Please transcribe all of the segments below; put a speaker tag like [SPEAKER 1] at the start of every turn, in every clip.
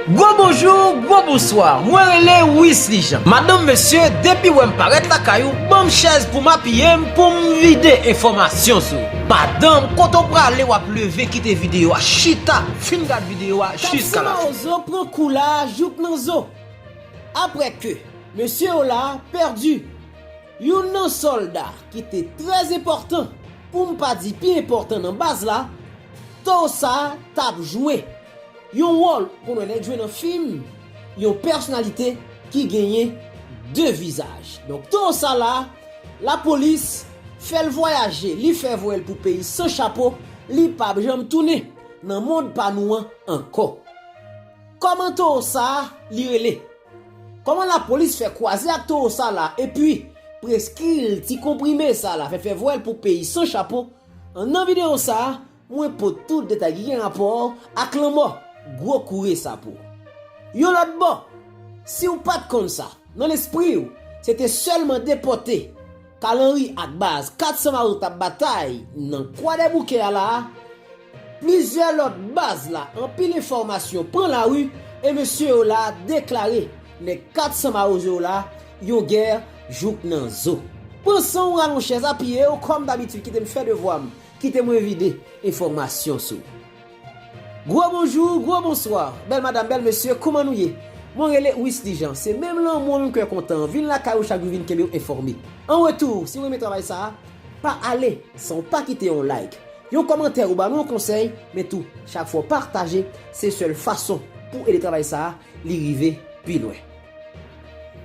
[SPEAKER 1] Gwo bonjou, gwo bonswa, mwen rele Wisly Jean. Madanm mesye, depi wè m parèt lakay ou, ban m chèz pou m apiye m pou m vide enfòmasyon sou ou. Madanm, kote w prale w ap leve kite videyo a, chita, fin gad videyo a jiska la fen. Taxi Mawozo pran kou la a
[SPEAKER 2] jouk nan zo. Aprè ke mesye w la a pèdi youn nan sòlda ki te trè enpòtan pou m pa di pi enpòtan nan baz la, Thor sa t ap jwe yon wòl koun wè nèg jwe nan fim, yon pèsonalite ki genyen 2 vizaj. Donk Thor sa la, lapolis fè l vwayaje, li fè voye l pou peyi san chapo, li p ap janm tounen nan mond pa nou an ankò. Kòman Thor sa li rele? Koman la polis fè kwaze ak towo sa la epi preskri'l ti konprime sa la fè fè vwèl pou peyi san chapo an nan video sa mwen pot tout detay ki gen rapò ak lanmò gwo koure sa pou yon lòt bò si'w pat konn sa nan lespri'w se te sèlman depòte Kalanri ak baz 400 Mawzo t ap batay nan Kwadèboukè a la a, plizyè lòt baz la anpil enfòmasyon pran lari e mesye yo la deklare nèg 400 Mawozo yo la yon gè jouk nan zo. Pran san w ralon chèz apiye w kòm dabitid kite m fè devwa m, kite mwen vide enfòmasyon sou. Gwo bonjou, gwo bonswa, bèl madam, bèl mesye, kouman nou ye? Mwen rele Wisly Jean, se menm lanmou an, menm kè kontan an, vin lakay ou chak jou vin kenbe w enfòme. An retou, si w renmen travay sa a, pa ale san w pa kite yon like, yon kòmantè ou ba nou yon konsèy, men tou, chak fwa w pataje, se sèl fason pou w ede travay sa a, li rive pi lwen.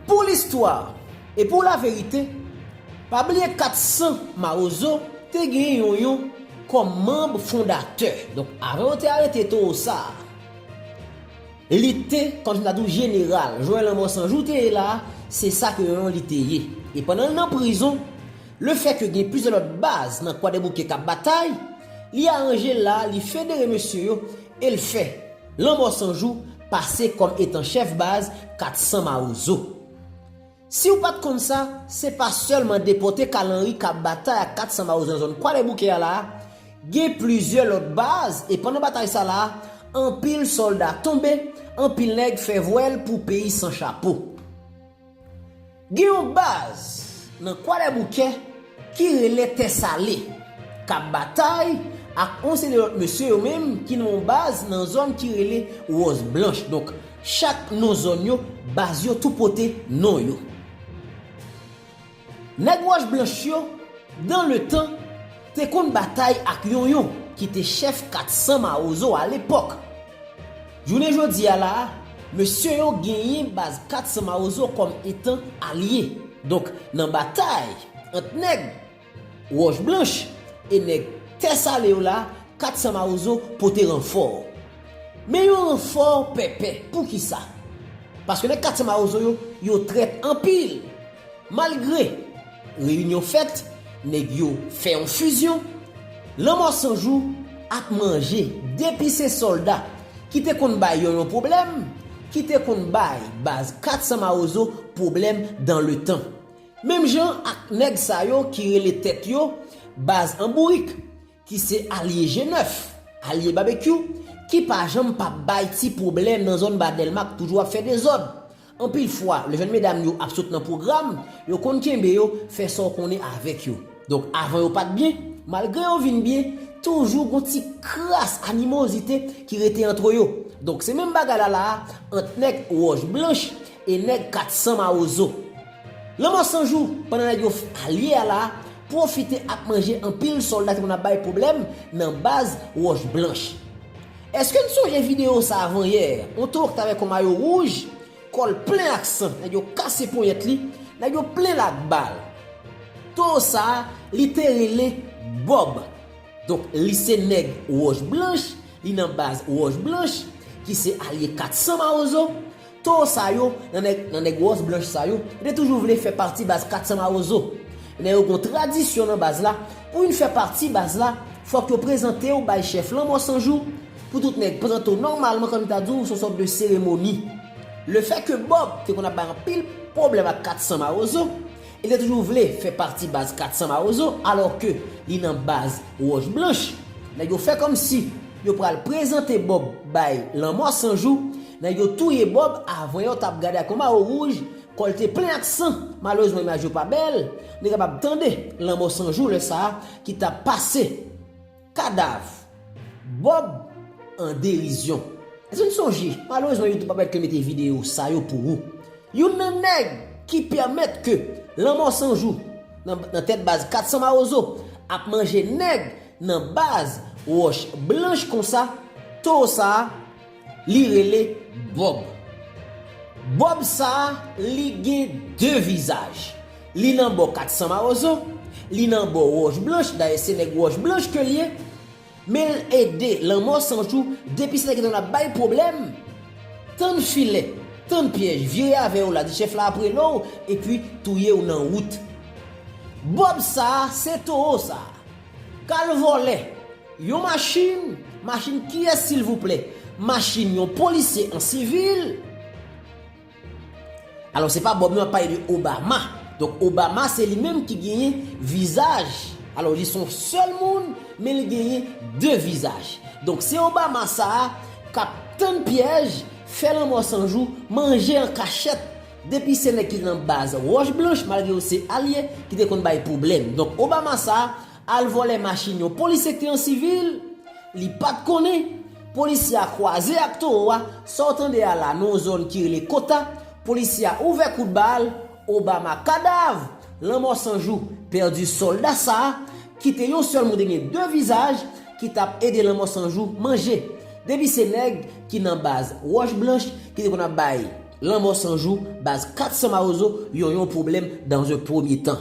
[SPEAKER 2] Pou listwa e pou laverite, pa bliye 400 Mawozo te gen yon yon kòm manb fondatè. Donk avan yo te arete towo sa a, li te, kòm si m ta di w jeneral, jwen lanmò san jou te ye la a, se sa ke yon yon li te ye. E pandan l nan prizon, lefè ke gen plizyè lòt baz nan Kwadèboukè k ap batay, li aranje l la a, li federe mesye yo e l fè. Lanmò San Jou pase kòm etan chèf baz 400 mawozo. Si ou pat konn sa, se pa sèlman depòte Kal Anri kap batay ak 400 mawozo nan zòn Kwadèboukè a la a, gen plizyè lòt baz e pandan batay sa la a, anpil sòlda tonbe, anpil nèg fè vwèl pou peyi san chapo. Gen yon baz nan Kwadèboukè ki rele Tè Sale k ap batay ak yon seri lòt mesye yo menm ki nan yon baz nan zòn ki rele Wòz Blanch. Donk, chak non zòn yo, baz yo tou pote non yo. Nèg Wòch Blanch yo, dan le tan, te konn batay ak Yonyon ki te chèf 400 Mawozo alepòk. Jounen jodi a la a, mesye yo genyen baz 400 mawozo kòm etan alye. Donk, nan batay ant nèg Wòch Blanch e nèg Tè Sale yo la a, 400 mawozo pote ranfò. Men yon ranfò pèpè. Poukisa? Paske nèg 400 mawozo yo, yo trèt anpil. Malgre, Reyinyon fèt, nèg yo fè yon fizyon, Lanmò San Jou ap manje depi se sòlda ki te konn bay Yonyon pwoblèm, ki te konn bay baz 400 Mawozo pwoblèm dan le tan. Menm jan ak nèg sa yo ki rele tèt yo baz an bourik. ki se alye je nèf, alye Babekyou, ki pa janm pa bay ti pwoblèm nan zòn Ba Dèlma k toujou ap fè dezòd. Anpil fwa, lè jèn medam yo ap sot nan pwogram, yo konn kenbe yo, fè sa w konnen avèk yo. Donk avan yo pa t byen, malgre yo vin byen, toujou gon ti kras animozite ki rete antre yo. Donk se menm bagay la la a ant nèg Wòch Blanch e nèg 400 Mawozo. Lanmò san jou, pandan nèg yo f alye a la pwofite ap manje anpil sòlda ki konn ap bay pwoblèm nan baz wòch blanch. Eske n sonje videyo sa avan yè, on toro k t avèk on mayo wouj, kò l plen ak san, nèg yo kase ponyèt li, nèg yo plen l ak bal. Toro sa a, li te rele Bòb. Donk li se nèg wòch blanch, li nan baz wòch blanch, ki se alye 400 mawozo, Too sa yo, nan nèg wòs blanch sa yo, yo te toujou vle fè pati baz 400 mawozo. Men yo gon tradisyon nan baz la, pou youn fè pati baz la, fòk yo prezante w bay chèf Lanmò San Jou, pou tout nèg pran to nòmalman kòm yo ta di w son sòt de seremoni. Lefètke Bòb te konn ap bay anpil pwoblèm ak 400 mawozo, Li te toujou vle fè pati baz 400 mawozo alò ke li nan baz wòch blanch. Nèg yo fè kòmsi yo pral prezante Bob bay lanmò san jou, nèg yo touye Bob avan yò tap gade ak yon mawo wouj, kòl te plen ak san, malerezman imaj yo pa bèl, nou kapab tande lanmò san jou lè sa ki tap pase. Kadav. Bob an derizyon. Eske n sonje, malerezman YouTube pa pèmèt mete videyo sa yo pou ou. Youn nan nèg ki pèmèt ke Lanmò 100 jou nan tèt baz 400 mawozo ap manje nèg nan baz Wòch Blanch konsa, towo sa a Li rele Bob. Bob sa a, li gen de vizaj. Li nan bò 400 Mawozo, li nan bò Wòch Blanch, dayè se nèg Wòch Blanch ke l ye, men l ede Lanmò San Jou depi se nèg la ap bay pwoblèm, tann filè, tann pyèj, vire avè yo la, di chèf la ap rele w epi touye w nan wout. Bob sa a, se towo sa a. Kal vòlè Yon machin Machin kiyès silvouplè Machin yon polisye an sivil Alò se pa Bob non ap pale de Obama Donk Obama se li menm ki genyen vizaj Alò li son sèl moun Men li genyen de vizaj Donk se Obama sa a Kap tann pyèj Fè lanmò sanjou Manje an kachèt Depi se nèg ki nan baz roch blanch malgre yo se alye ki te konn bay pwoblèm donk Obama sa al vòlè machin yon polisye ki te an sivil li pat konnen polisye a kwaze ak towo a sa w tande a la nan yon zòn ki rele kota polisye a ouvè kout bal Obama kadav lanmò san jou pèdi sòlda sa ki te yon sèl moun te gen 2 vizaj ki tap ede lanmò san jou manje depi se nèg ki nan baz roch blanch ki te konn ap bay. Lanmò san jou baz 400 mawozo yon yon pwoblèm dans un premye tan.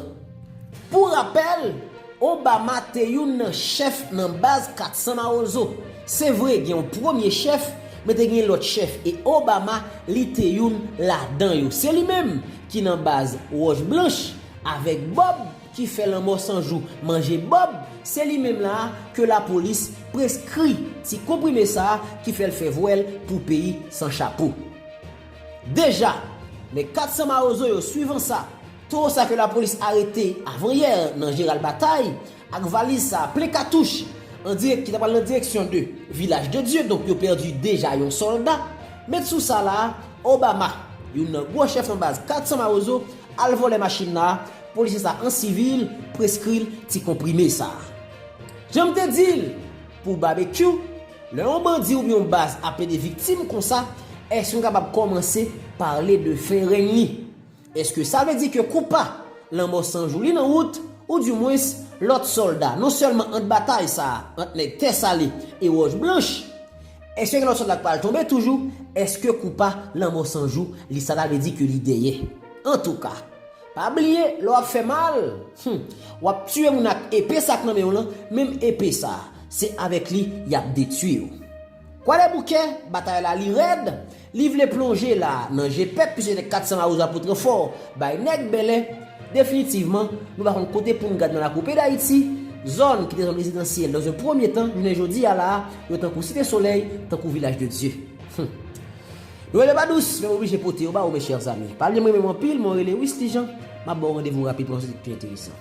[SPEAKER 2] Pou rapèl, Obama te youn nan chèf nan baz 400 mawozo. Se vre gen yon premye chèf, men te gen lòt chèf e Obama li te youn ladan yo. Se li menm ki nan baz wòch blanch avèk Bob ki fè lanmò san jou manje Bob, se li menm la ke lapolis preskri ti konprime sa ki fè l fè vwèl pou peyi san chapo. Deja, nèg 400 mawozo yo swivan sa, towo sa ke lapolis arete avan yè nan Gérald Bataille ak valiz sa plen katouch an direk ki ta pral nan direksyon de Vilaj de Dye donk yo pèdi deja yon sòlda, met sou sa la a Obama youn nan gwo chèf nan baz 400 mawozo al vòlè machin la a, polisye sa an sivil preskri l ti konprime sa. Jan m te di l pou Babekyou, Lè yon bandi oubyen yon baz ap plede viktim konsa, èske nou kapab kòmanse pale de fen règn li? Èske sa vle di ke konpa, lanmò san jou li nan wout, ou di mwens, lòt sòlda, non sèlman ant batay sa a, ant nèg tè sale e wòch blanch, èske gen lòt sòlda k pral tonbe toujou, èske konpa, lanmò san jou li sa ta vle di ke li dèyè? Antouka. Pa bliye lè wap fè mal, hum wap tiye moun ak epe sak nan menw lan, menm epe sa se avèk li yap detyiw. Kwadèboukè batay la li rèd, li vle plonje la nan je pèp pise de 400 lawoza pou tranfò bay nèg bèlè, definitivman nou pa konn kote poun gad nan lakou peyi dayiti, zòn ki te zòn rezidansyèl dans un premye tan jounen jodi a la yo tankou site solèy, tankou vilaj de dye. Hum. Noël yo pa dous, men m oblije pote yo ba ou mes chers amis. Pal yo m renmen w anpil, mwen rele Wisly Jean, map ba w randevou rapid pou yon sijè ki pi enteresan.